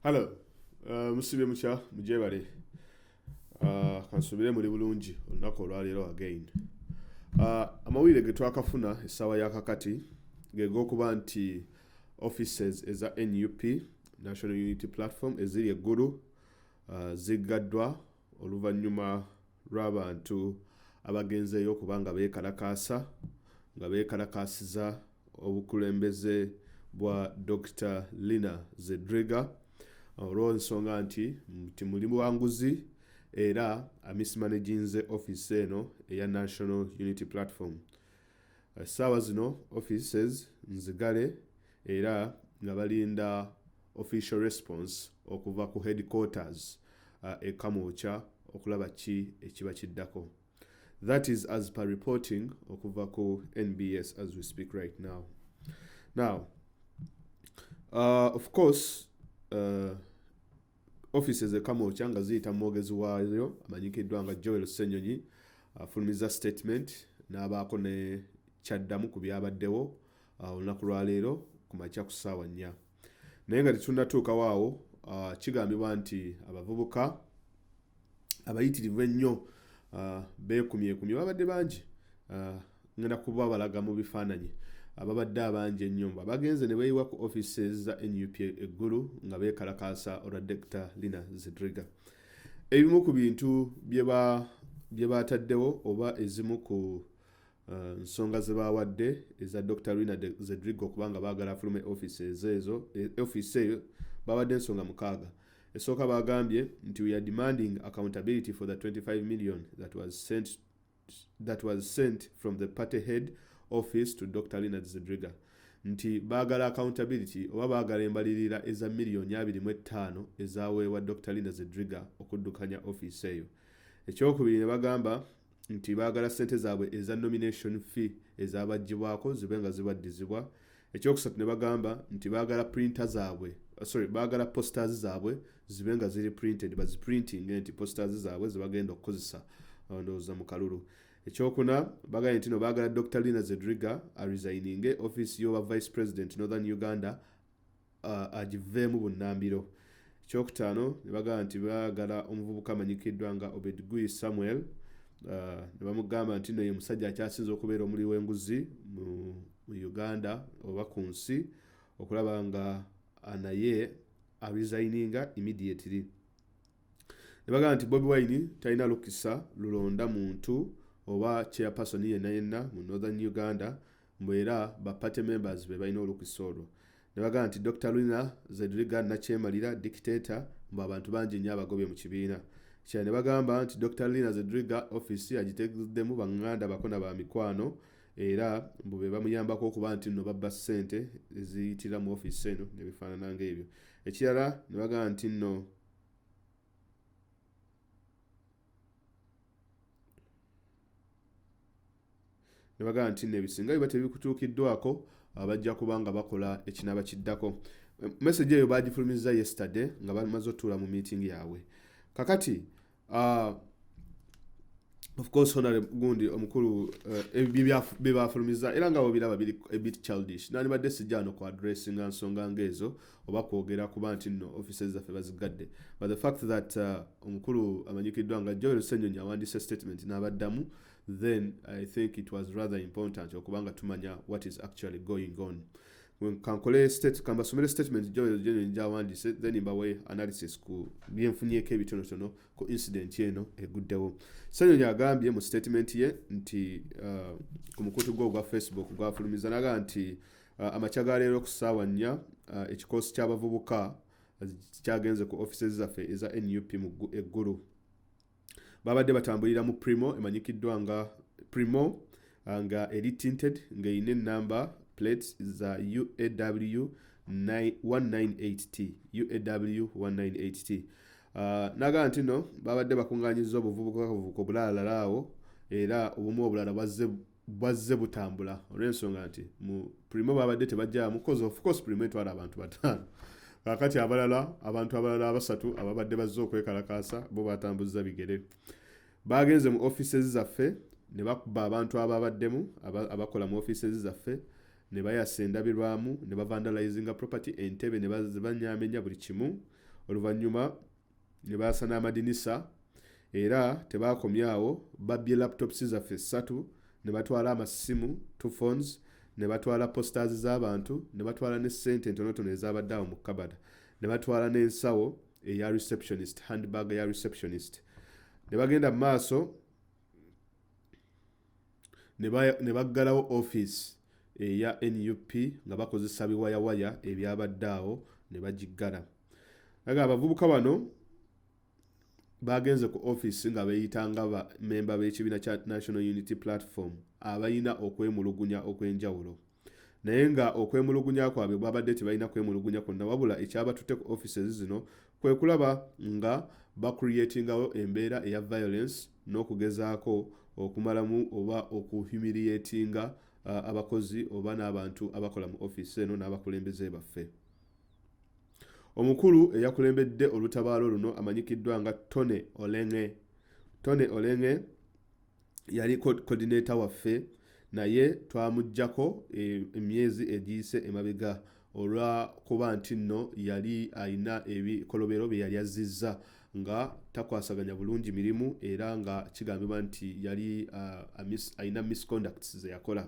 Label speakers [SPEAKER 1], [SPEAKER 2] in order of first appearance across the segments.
[SPEAKER 1] halo uh, musibye mukya mujebale uh, kansubire muli bulungi olunaku olwaleero again uh, amawulire getwakafuna essaawa yakakati gegokuba nti offices eza nup national unity platform eziri eggulu uh, ziggaddwa oluvannyuma lw'abantu abagenzeeyo okuba nga beekalakaasa nga beekalakaasiza obukulembeze bwa Dokita Lina Zedriga olw'ensonga nti nti muli buwanguzi era amismanaginze office eno eya National Unity Platform. Essaawa zino offices nzigale era nga balinda official response okuva ku headquarters uh, e Kamwokya okulaba ki ekiba kiddako. That is as per reporting okuva ku NBS as we speak right now. Now, uh, of course, uh, offices e Kamwokya nga ziyita mwogezi waayo amanyikiddwa nga Joel Ssenyonyi afulumiza uh, statement n'abaako ne kyaddamu ku byabaddewo ah, olunaku lwaleero ku makya ku ssaawa nnya naye nga tetunatuukawo awo ah, kigambibwa nti abavubuka abayitirivu ennyo ah, beekumyekumye babadde bangi ngenda kuba balaga mu bifaananyi ababadde abangi ennyo nga bagenze ne beeyiwa ku offices za nup eggulu nga beekalakaasa olwa dekita lina zidriga ebimu ku bintu bye bataddewo oba ezimu ku Uh, nsonga ze baawadde eza dr rina zedrigo okubanga baagala afulume office ezo ezo e, office eyo baawadde ensonga mukaaga esooka baagambye nti we are demanding accountability for the 25 million that was sent, that was sent from the party head office to dr rina zedriga nti baagala accountability oba baagala embalirira eza miliyoni abiri mu ettaano ezaweebwa dr rina zedriga okuddukanya office eyo ekyokubiri ne bagamba nti baagala ssente zaabwe eza nomination fee ezabaggyibwako zibe nga zibaddizibwa ekyokusatu ne bagamba nti baagala printa zaabwe uh, sorry baagala posters zaabwe zibe nga ziri printed baziprinting nti posters zaabwe zebagenda okukozesa uh, ndowooza mu kalulu ekyokuna bagambye nti no baagala dr lina zedriga aresininge office y'oba vice president northern uganda agiveemu bunnambiro. Ekyokutaano ne bagamba nti baagala omuvubuka amanyikiddwa nga Obed Guy Samuel ne bamugamba nti nno ye musajja akyasinze okubeera omuli w'enguzi mu Uganda oba ku nsi okulaba nga naye arizayininga immediately ne bagamba nti Bobi Wine talina lukisa lulonda muntu oba chairperson yenna yenna mu Northern Uganda mbu era ba party members be balina olukisa olwo ne bagamba nti Dokita Lina Zedriga Nakyemalira dictator mbu abantu bangi nnyo abagobye mu kibiina kya ne bagamba nti Dokita Lina Zedriga office agitegeddemu banganda bako na ba mikwano era mbu be bamuyambako okuba nti nno babba ssente eziyitira mu ofiisi eno ne bifaanana ng'ebyo ekirala ne bagamba nti nno ne bagamba nti nno ebisinga biba tebikutuukiddwako bajja kuba nga bakola ekinaaba kiddako message eyo baagifulumizza yesterday nga bamaze otuula mu meeting yaabwe kakati uh, of course honore gundi omukulu uh, byebaafulumizza era nga bobiraba biri a bit childish nandibadde sijja wano ku addressinga nsonga ngaezo uh, oba kwogera kuba nti nno offices zaffe bazigadde but the fact that uh, omukulu amanyikiddwa nga joel senyonyi awandiise statement n'abaddamu then i think it was rather important okubanga tumanya what is actually going on kankole state kambasomere statement joel senyonyi gyawandiise then mbawe analysis ku byenfunyeko ebitonotono ku incident eno eguddewo senyonyi agambye mu statement ye nti uh, ku mukutu gwe ogwa facebook gwafulumiza naga nti Uh, amakya ga leero ku ssaawa nnya uh, ekikoosi ky'abavubuka uh, kyagenze ku offices zaffe eza nup mu eggulu babadde batambulira mu primo emanyikiddwa nga primo nga eri tinted ng'erina enamba plates za uaw 198t uaw 198t nagamba nti no babadde bakunganyiza obuvubuka buvuka obulalalala awo era obumu obulala bwazze bwazze butambula olw'ensonga nti mu prime babadde tebajjamu coz of course prime etwala abantu bataano kakati abalala abantu abalala abasatu ababadde bazze okwekalakaasa bo batambuzza bigere bagenze mu offices zaffe ne bakuba abantu ababaddemu abakola mu offices zaffe ne bayasa endabirwamu ne bavandalizinga property entebe ne banyamenya buli kimu oluvannyuma ne baasa n'amadinisa era tebaakomyawo babbye laptops zaffe ssatu ne batwala amasimu two phones ne batwala posters z'abantu ne batwala ne ssente entonotono ezabadde awo mu kabada ne batwala n'ensawo eya receptionist handbag ya receptionist ne bagenda mu maaso ne baggalawo office eya nup nga bakozesa biwayawaya ebyabadde awo ne bagiggala aga abavubuka bano baagenze ku ofiisi nga beeyita nga bamemba b'ekibiina kya national unity platform abalina okwemulugunya okw'enjawulo naye nga okwemulugunya kwabwe bwabadde tebalina kwemulugunya kwonna wabula ekyabatutte ku offices zino kwe kulaba nga bacreatingawo embeera eya violence n'okugezaako okumalamu oba okuhumiliatinga uh, abakozi oba n'abantu abakola mu ofiisi eno n'abakulembeze baffe Omukulu eyakulembedde olutabaalo luno amanyikiddwa nga Tony Oleng'e. Tony Oleng'e yali coordinator waffe naye twamuggyako e, emyezi egiyise emabega olwakuba nti nno yali alina ebikolobero bye yali azzizza nga takwasaganya bulungi mirimu era nga kigambibwa nti yali uh, alina misconducts ze yakola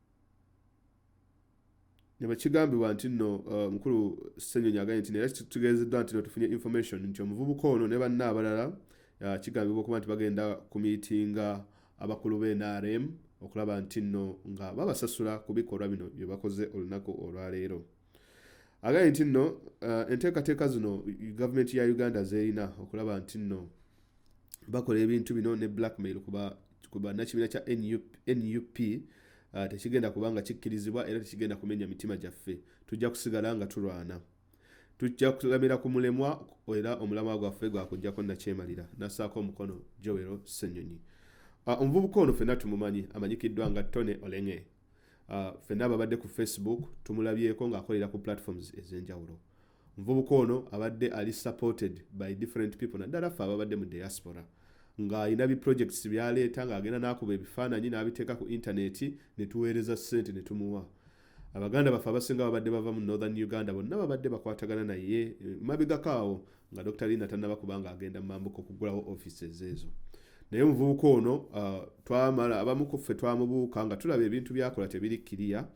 [SPEAKER 1] nebwekigambibwa nti nno uh, mukulu Ssenyonyi agambye nti era kitegeezeddwa nti no tufunye information nti omuvubuka ono ne banna abalala uh, kigambibwa okuba nti bagenda ku miitinga abakulu be NRM okulaba nti nno nga babasasula ku bikolwa bino bye bakoze olunaku olwaleero agambye nti nno uh, enteekateeka zino gavumenti ya Uganda zerina okulaba nti nno bakola ebintu bino ne blackmail kuba kuba nakibiina kya nup uh, ah, tekigenda kuba nga kikkirizibwa era tekigenda kumenya mitima gyaffe tujja kusigala nga tulwana tujja kulamira ku mulemwa era omulamwa gwaffe gwakujjako nakyemalira nasaako omukono jowero senyonyi uh, ah, omuvubuka ono fenna tumumanyi amanyikiddwa nga tony olenge uh, ah, fenna ababadde ku facebook tumulabyeko ng'akolera ku platforms ez'enjawulo Omuvubuka ono abadde ali supported by different people naddala ffe ababadde mu diaspora ng'alina bi projects byaleeta ng'agenda n'akuba ebifaananyi n'abiteeka ku intaneti ne tuweereza ssente ne tumuwa abaganda baffe abasinga babadde bava mu northern uganda bonna babadde bakwatagana naye eh, mabegako awo nga dr lina tannaba kubanga agenda mu mambuka okugulawo offices ezo naye omuvubuka ono ah, twamala abamu ku ffe twamubuuka nga tulaba ebintu byakola tebiri kiriya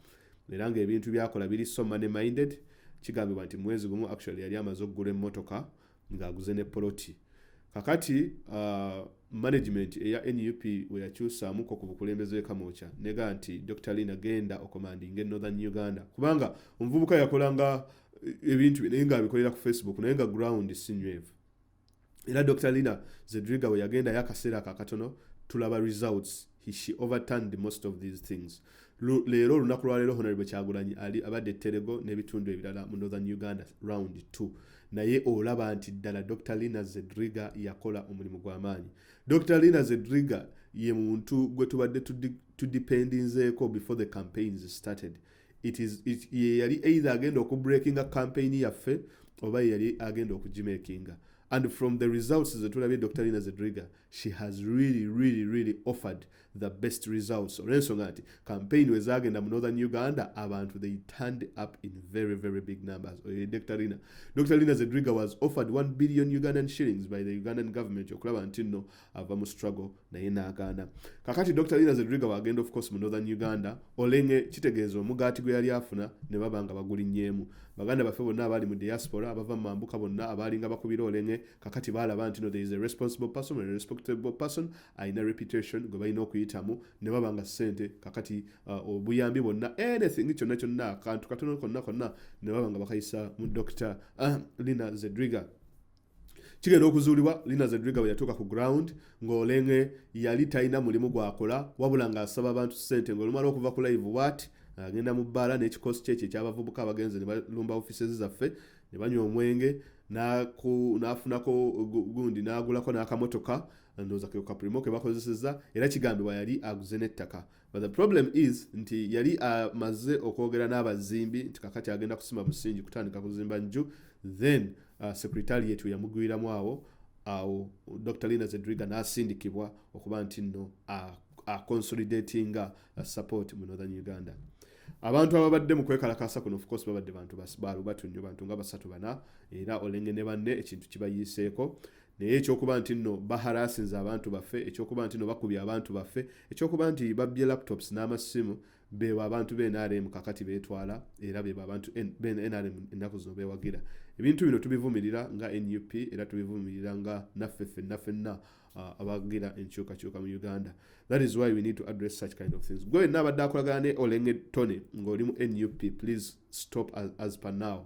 [SPEAKER 1] era nga ebintu byakola biri so money minded kigambibwa nti mwezi gumu actually yali amaze okugula emmotoka ng'aguze ne poloti kakati uh, management eya nup weyakyusaamuko ku bukulembeze wekamookya nega nti dr lin agenda okomandinga e northern uganda kubanga omuvubuka yakolanga eh, ebintu naye nga abikolera ku facebook naye nga ground sinywevu era dr lina zedriga we yagendayo akaseera ako akatono tulaba results she overturned most of these things leero olunaku lwaleero honarable kyagulanyi ali abadde terego n'ebitundu ebirala mu northern uganda round 2 naye olaba nti ddala dr lina zedriga yakola omulimu gw'amaanyi dr lina zedriga ye muntu gwe tubadde tudipendinzeeko before the campaigns started yeyali either agenda okubreakinga campaign yaffe oba yeyali agenda okugimakinga and from the results zetulabye dr lina zedriga she has really really really offered the best results olwensonga nti campaign wezagenda mu northern uganda abantu they turned up in very very big numbers oyo dr lina dr lina zedriga was offered 1 billion ugandan shillings by the ugandan government okulaba nti nno ava mu struggle naye n'agaana kakati dr lina zedriga wagenda of course mu northern uganda olenge kitegeeza omugaati gwe yali afuna ne baba nga bagulinnyeemu baganda baffe bonna abaali mu diaspora abava mu mambuka bonna abaalinga bakubira olenge kakati baalaba nti no there is a responsible person a respectable person alina reputation gwe balina okuyitamu ne baba nga ssente kakati uh, obuyambi bonna anything kyonna kyonna akantu katono konna konna ne baba nga bakayisa mu dr uh, lina zedriga kigenda okuzuulibwa lina zedriga bwe yatuuka ku ground ng'olenge yali talina mulimu gwakola wabula ng'asaba abantu ssente ng'olumala okuva ku live wat agenda mu bbaala n'ekikosi kye ekyo ekyabavubuka abagenzi ne balumba offices zaffe ne banywa omwenge n'afunako gundi n'agulako n'akamotoka ndowooza ke kaprimo ke bakozesezza era kigambibwa yali aguze n'ettaka But the problem is nti yali amaze uh, okwogera n'abazimbi nti kakati agenda kusima musingi kutandika kuzimba nju then uh, secretariat yamugwiramu awo awo Dr. Lina Zedriga n'asindikibwa okuba nti nno uh, aconsolidatinga uh, support mu Northern Uganda. abantu ababadde mu kwekalakaasa kuno ofcourse babadde bantu balubatu nnyo bantu nga basatu bana era olenge ne banne ekintu kibayiiseeko naye ekyokuba nti nno baharasinze abantu baffe ekyokuba nti no bakubye abantu baffe ekyokuba nti babbye laptops n'amassimu bebo abantu be nrm kakati betwala era bebo abantu nrm ennaku zino bewagira ebintu bino tubivumirira nga nup era tubivumirira nga naffe ffenna ffenna uh, abagira enkyukakyuka mu uganda that is why we need to address such kind of things gwe nabadde akolagana ne olenge tony ng'oli mu nup please stop as, as per now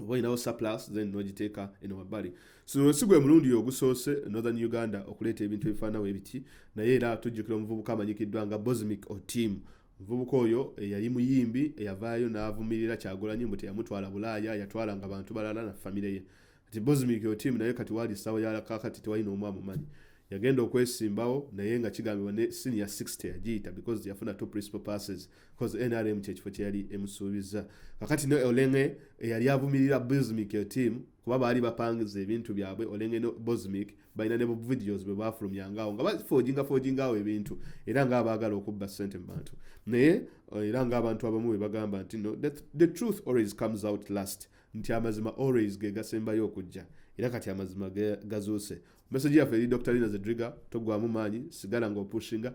[SPEAKER 1] oba olinawo surplus then nogiteeka eno wabbali so si gwe mulundi ogusoose northern uganda okuleeta ebintu ebifaanawo ebiti naye era tujjukira omuvubuka amanyikiddwa nga bosmic otim omuvubuka oyo eyali eh, muyimbi eyavaayo eh, n'avumirira kyagulanyi mbu teyamutwala bulaaya yatwala nga bantu balala na famire ye kati bosmic otim naye kati waali ssaawa yalakakati tewali n'omu amumanyi yagenda okwesimbawo naye nga kigambibwa ne senior 60 yagiyita because yafuna two principal passes because nrm kyekifo kyeyali emusuubiza kakati ne olenge eyali avumirira bosmic yo team kuba baali bapangiza ebintu byabwe olenge no bosmic balina ne videos bwe bafulumyangawo nga bafoginga fogingawo ebintu era nga abaagala okubba sente mu bantu naye eh, era nga abantu abamu bwe bagamba nti no the, the truth always comes out last nti amazima always ge gasembayo okujja era kati amazima gazuuse meseji yaffe eri dr lina zedriga togwamu maanyi sigala nga opushinga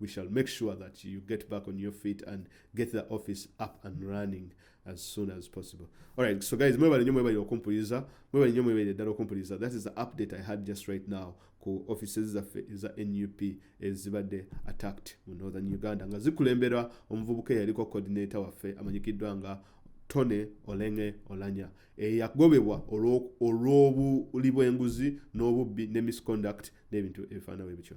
[SPEAKER 1] we shall make sure that you get back on your feet and get the office up and running as soon as possible all right so guys mwebale nyo mwebale okumpuliza mwebale nyo mwebale ddala okumpuliza that is the update i had just right now ku offices zaffe eza nup ezibadde attacked mu northern uganda nga zikulemberwa omuvubuka eyaliko coordinator waffe amanyikiddwa nga tone olenge olanya eyagobebwa olw'obuli bw'enguzi n'obubbi ne misconduct n'ebintu ebifaanana bwe bityo